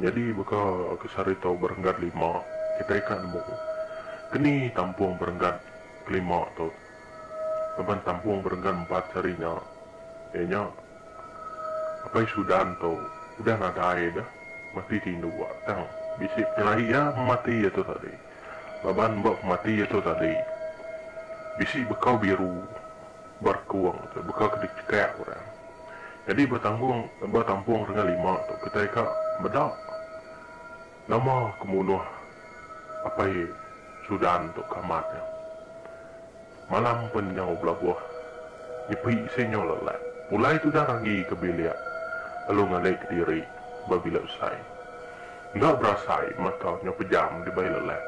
Nyadi baka ke saritu berenggat lima, kitai ka nemu keni tampung berenggat ke lima tu laban tampung berenggat empat sehari nya iya nya Apai Sudan tu udah nadai deh mati ti indu ba tang bisi penyelahi iya pemati iya tu tadi laban ba pemati iya tu tadi bisi bekau biru. Barkung tu baka ke dicekak orang. Nyadi batanggung batampung dengan lima tu kitai ka meda nama ke munuh Apai Sudan tu ke amat nya. Malam pen nyau belabuh nyepi isi nyau lelat. Pulai tudah ragi ke bilik lalu ngalai kediri ba bilik besai. Enda berasai mata nyau pejam dibai lelat.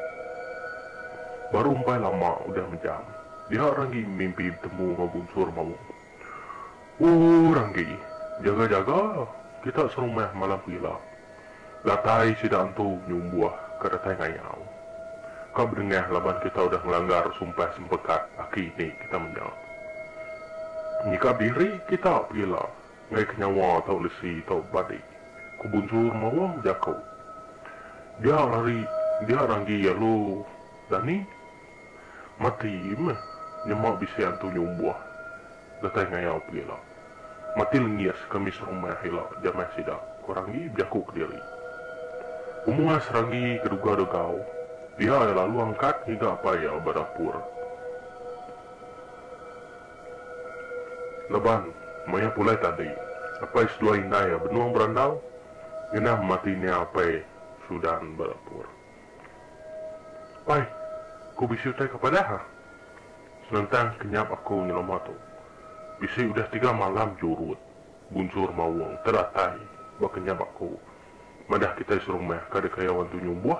Baru empai lama udah mejam. Nya Ranggi mimpi betemu enggau Bunsur Maung. Ooh Ranggi, jaga-jaga kita serumah malam ke ila. Datai sida antu nyumbuh ka datai ngayau. Ka bedengah laban kita udah ngelanggar sumpah sempekat aki ni kita menya. Nyikap diri kita pegila ngaika nyawa tau lesi tau badi, ku Bunsur Maung jaku. Dia Rari, dia Ranggi alu Dani Mati meh nyema bisi antu nyumbuh datai ngayau pegila. Mati lengis kami serumah ila jamai sida, ku Ranggi bejaku kediri. Umua Seranggi ke duga degau, pia iya lalu angkat ngiga apai iya ba dapur. Laban, maya pulai tadi, apai seduai indai iya benung berandau ngena mati nia apai Sudan ba dapur. Pai, ku bisi utai ke padah ha. Senentang kenyap aku nyelama tu. Bisi udah tiga malam jurut, bunchur maung, teratai ba kenyap aku. Madah kitai serumah kada kaya orang tu nyumbuh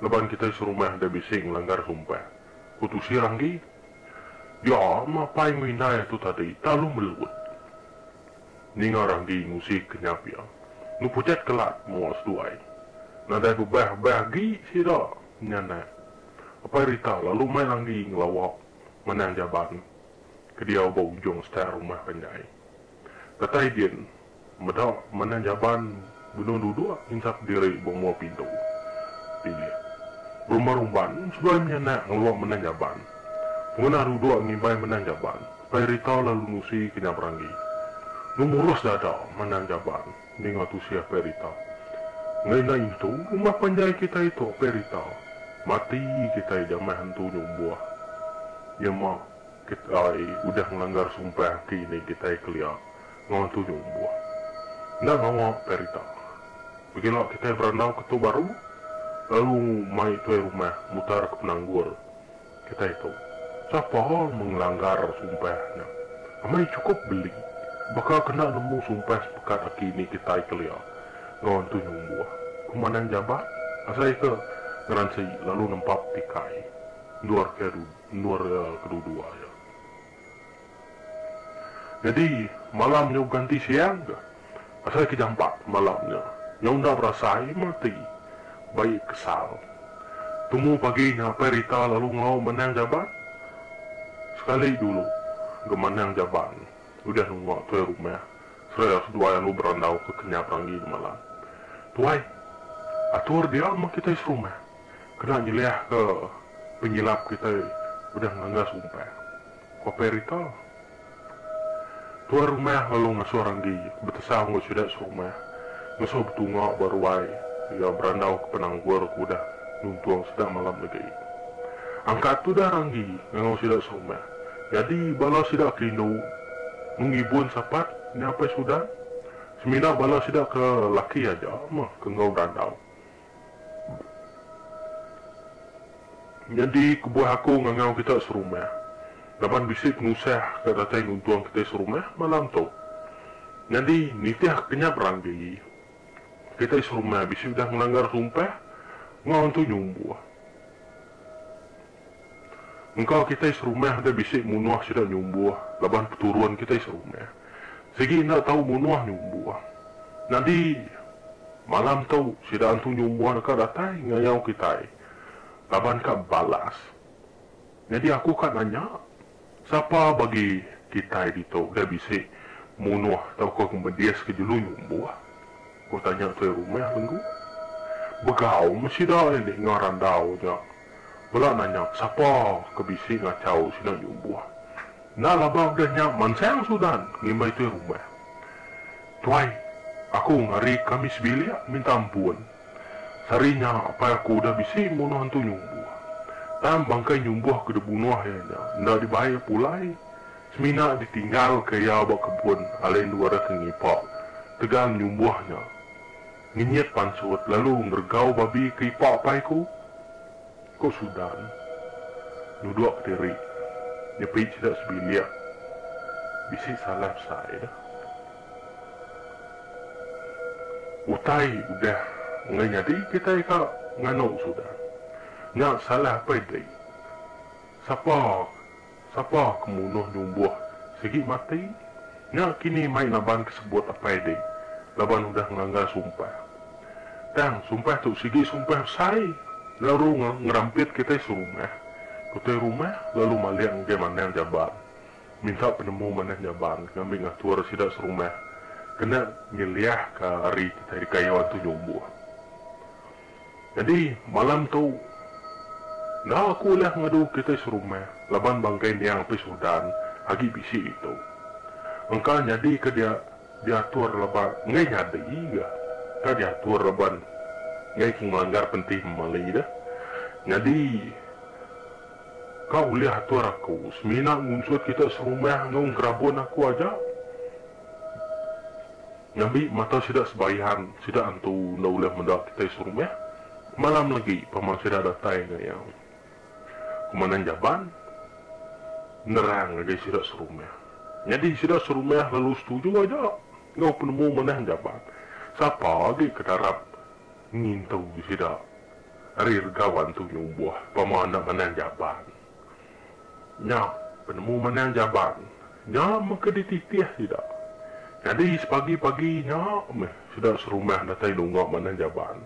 laban kitai serumah enda bisi ngelanggar sumpah, ku Tusi Ranggi. Ya, ma Pai ngerindai tu tadi, talu melut. Ninga Randi ngusik ke nya pia. Nu pucat kelat mua seduai. Nadai bebah-bah agi sida nya anak. Apai Rita lalu mai langgi ngelawa manah jaban ke diau ba ujung star rumah panjai. Datai din meda manah jaban. Benung duduk intak diri ba mua pintu bilik Rumah Rumban seduai menyanak ngeluak menang jaban. Ngunah duduk ngimbai menang jaban, Pai Rita lalu nusi ke nya beranggi. Nu murus dada menang jaban ninga tusih Pai Rita. Ngena intu rumah panjai kitai tu Pai Rita, mati kitai jamah entu nyumbuh. Nyema kitai udah ngelanggar sumpah ke ini kitai kelia ngawa tuju lebuh. Enda ngawa perita. Begila kitai berandau ke tu baru lalu mai tuai rumah mutar ke penanggul kitai tu. Sapa mengelanggar sumpah nya. Amai chukup beli baka ke enda nemu sumpah sepekat aki ni kitai kelia ngawa entu nyumbuh. Ku Manang Jabat asai ke ngeransi lalu nempap tikai endur ke endur kedua-dua iya. Nyadi, malam nyau ganti siang ga. Asai ke jampat malam nya, nyau enda berasai mati. Baik kesal. Tumu pagi nya apai Rita lalu ngau manang jaban. Sekali dulu ga manang jaban udah nunga tuai rumah seraya seduai lalu berandau ke kenyap ranggi gemalam. Tuai, atur dia meh kitai serumah kena nyeliahka penyilap kitai udah ngelanggar sumpah. Ku Perito, tuan rumah lalu ngasuh Ranggi betesal enggau sida serumah ngasuh betunga ba ruai iya berandauka penanggul ke udah nuntung sida malam negi. Angkat tudah Ranggi ngangau sida serumah, nyadi bala sida ke indu meh ngibun sapat nyapai sudan, semina bala sida ke laki aja meh ke enggau berandau. Nyadi kebuah aku ngangau kita serumah laban bisi penusah ke datai nuntung kitai serumah malam tu. Nyadi nitih ke nya berang diri, kitai serumah bisi udah ngelanggar sumpah enggau Entu Nyumbuh. Engka kitai serumah enda bisi munuh sida nyumbuh laban peturun kitai serumah sigi enda tau munuh nyumbuh. Nyadi malam tu sida antu nyumbuh deka datai ngayau kitai laban ka balas. Nyadi aku ka nanya Sapa bagi kitai ditu udah bisi munuh tauka kemedis ke jelu nyumbuh? ku tanya tuai rumah Lenggu. Begau meh sida ini enggau randau nya bela nanya sapa ke bisi ngachau sida nyumbuh. Enda laban udah nya mansang Sudan, ngimbai tuai rumah. Tuai, aku enggau ari kami sebilik minta ampun. Sehari nya, apai aku udah bisi munuh Antu Nyumbuh. Tang bangkai Nyumbuh ke dibunuh iya nya enda dibai pulai, semina ditinggalka iya ba kebun alai endu ari ke ngipa tegal Nyumbuh nya ngenyit pansut lalu ngeregau babi ke ipa apai aku, ku Sudan nudukka diri nyepi sida sebilik bisi salah besai. Utai udah enggai nyadi kitai ka nganu sudah. Nya salah apai diri. Sapa sapa ke munuh nyumbuh sigi mati. Nya kini mai naban ke sebut apai diri laban udah ngelanggar sumpah. Tang sumpah tu sigi sumpah besai lalu ngerampit kitai serumah. Kutai rumah lalu malik ngagai manang jaban. minta penemu manah nyaban ngambi ngatur sida serumah kena nyeliahka ari kitai dikayuh antu nyumbuh. Nyadi, malam tu, enda aku ulih ngadu kitai serumah laban bangkai niang Apis Udan agi bisi ditu. Engka nyadi ke dia diatur laban enggai nyadi ga ka diatur laban enggai ke ngelanggar pentih memali deh. Nyadi. Ka ulih atur aku semina ngunsut kita serumah enggau gerabun aku aja? Ngambi mata sida sebayan, sida antu enda ulih meda kitai serumah. Malam legi pama sida datai enggau iya. Komandan Jaban nerang ngagai sida serumah. Nyadi sida serumah lalu setuju aja enggau penemu manah Jaban. Sapa agi ke darap ngintu sida Ari rega wan tu nyumbuh pama enda manang jaban. Nya penemu manang jaban nya mega dititih sida. Nyadi sepagi pagi nya meh sida serumah datai nunga manang jaban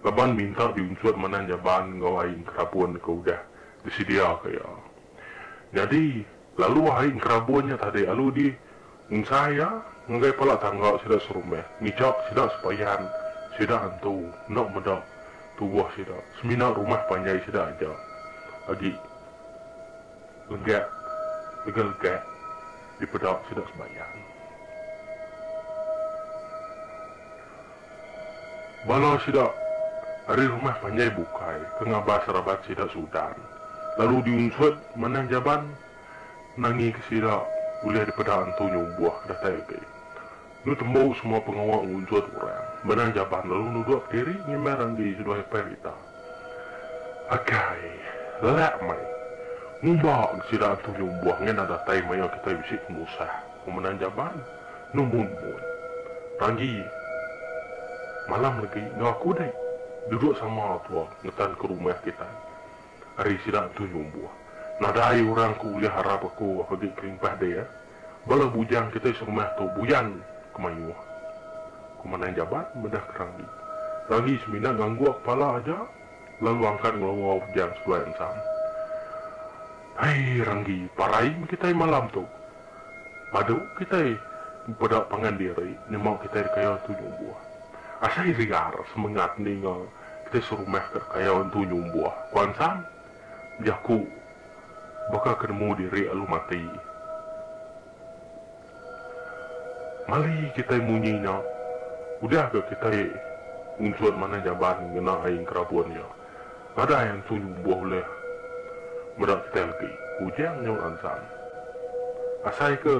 laban minta diunchut manang jaban enggau ai engkerabun ke udah disediaka iya. Nyadi, lalu hari enkerabun nya tadi alu di ensai iya ngagai pala tangga sida serumah ngijak sida sepayan sida antu enda meda tubuh sida semina rumah panjai sida aja agi legak legalegak dipeda sida sebayan. Bala sida ari rumah panjai bukai ke ngabas raban sida Sudan lalu diunsut manah Jaban nangi ke sida ulih dipeda entu nyumbuh ke datai agi. Enu tembu semua pengawa ngunsut orang manah Jaban lalu nudukka diri ngimbar agi seduai Apai Rita. Akai, lelak meh. Ngumba ke sida entu nyumbuh ngena datai maya kitai bisi penusah pemenang jaman nemun-mun. Ranggi, malam legi enggau aku deh duduk sama tua ngetan ke rumah kitai. Ari sida entu nyumbuh. Nadai orang ke ulih arap aku agi kelimpah dia. Bala bujang kitai serumah tu buyan ke mayuh. Komandan Jabat medahka Ranggi. Ranggi semina ngangguk kepala aja lalu angkat ngeloa bujang seduai ensang. Hai Ranggi, parai meh kitai malam tu. Padu kitai peda pangan diri nyema kitai dikaya Entu Nyumbuh. Asai liar semengat ninga kitai serumah ke dikaya Entu Nyumbuh, ku Ansang. Jaku, Baka ke nemu diri alu mati. Mali kitai munyi nya, udah ga kitai ngunchut manah jamban ngena ai enkerabun nya. Nadai antu nyumbuh ulih meda kitai legi, ku Ujang nyau Ansang. Asai ke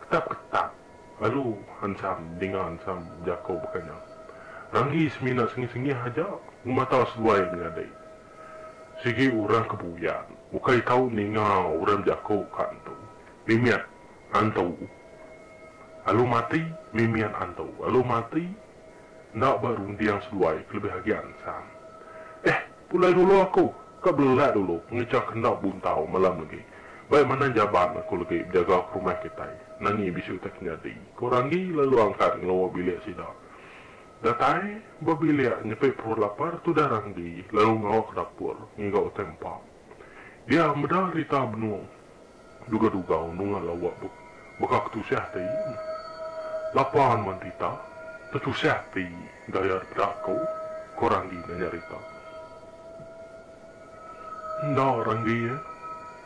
ketap-ketap. Lalu ensam ninga ensam jako baka nya. Ranggi semina sengih-sengih aja ngemata seduai menyadi. Sigi orang ke buyan ukai tau ninga orang bejako ka entu. Mimiat antu alu mati, mimiat antu alu mati. Enda ba runding seduai kelebih agi ansang. Eh, pulai dulu aku, ka belelak dulu pengejang ke enda buntau malam legi. Bai manah jaban aku legi bejaga ke rumah kitai, nangi bisu utai ke nyadi, ku Randi lalu angkat ngelua bilik sida. Datai ba bilik nyepi perut lapar tudah Randi lalu ngawa ke dapur ngiga utai empa. Dia meda Rita benung Duga-duga unungan lawa tu baka ketusah ti lapan manti ta tetusah ti gaya depeda aku, ko Randi ngenyerita. Enda Randi iya,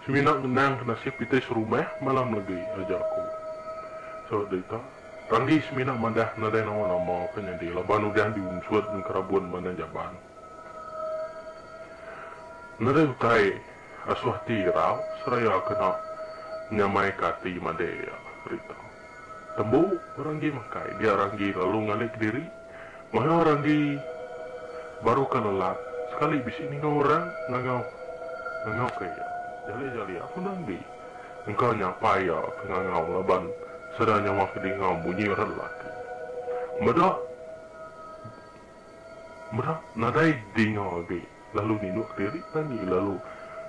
semina ngenangka nasib kitai serumah malam legi aja ko. Saut derita, Randi semina madah nadai nawa nama ke nyadi laban udah diunsut nengkerabun Bandar Jaban. Nadai utai Asuh ati irau seraya kena nyamaika ati madai iya rita. Tembu Ranggi makai dia Ranggi lalu ngalih kediri maha Ranggi baru ka lelat sekali bisi ninga orang ngangau ngangau ka iya. Jali jali aku Ranggi engka nyapa iya ke ngangau laban sedar nyawa ke dingau munyi orang lelaki. Meda meda nadai dinga agi. lalu ninuk diri tani lalu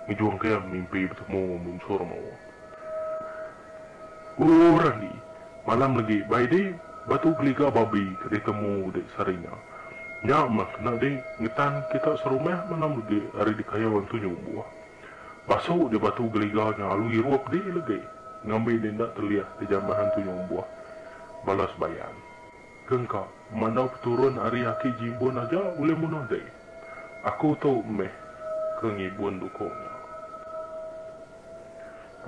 ngejung ke mimpi betemu munsur mau Ooh Randi malam legi bai di batu geliga babi ke di temu di Saringa nya mah kena di ngetan kita serumah malam legi ari di kayo entu nyumbuh basu di batu geliga nya alu irup di legi ngambi di enda telih di jambah entu nyumbuh balas bayan. Ke engka, mandau peturun ari aki Jibun aja ulih munah deh. Aku tu meh ke ngibun dukung nya.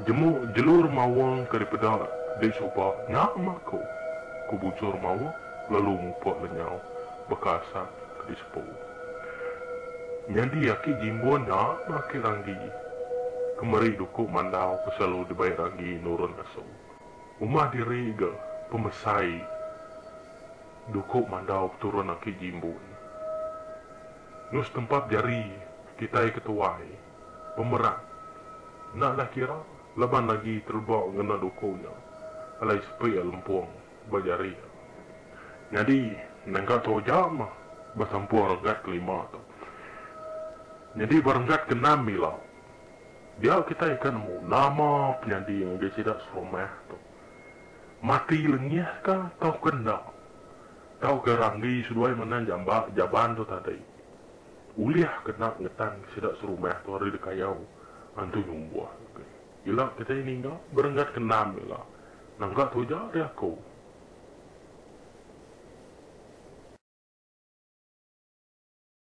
Jemu jelu remawang ke dipeda deh suba nya meh aku, ku Bujur mawa lalu mupuk lenyau baka asap ke disepu. Nyadi aki Jimbun nya meh aki Ranggi ke meri dukung mandau ke selalu dibai Ranggi nurun ngasu. Uma diri ga pemesai duku mandau peturun aki Jimbun. Lu setempap jari kitai ke tuai, pemerat, enda nah kira laban lagi tereba ngena duku nya alai sepi iya lempung ba jari iya. Nyadi nengka tu aja mah besampuh renggat kelima tu. Nyadi ba renggat keenam ila. Dia kitai enda nemu nama penyadi ngagai sida serumah tu. Mati lengih ka tauka enda. Tauka ranggi seduai manah jamba jaban tu tadi. Ulih ke enda ngetanka sida serumah tu ari dikayau antu nyumbuh agi. Ila kitai ninga berenggat ke enam ila. Nangka tu aja ari aku.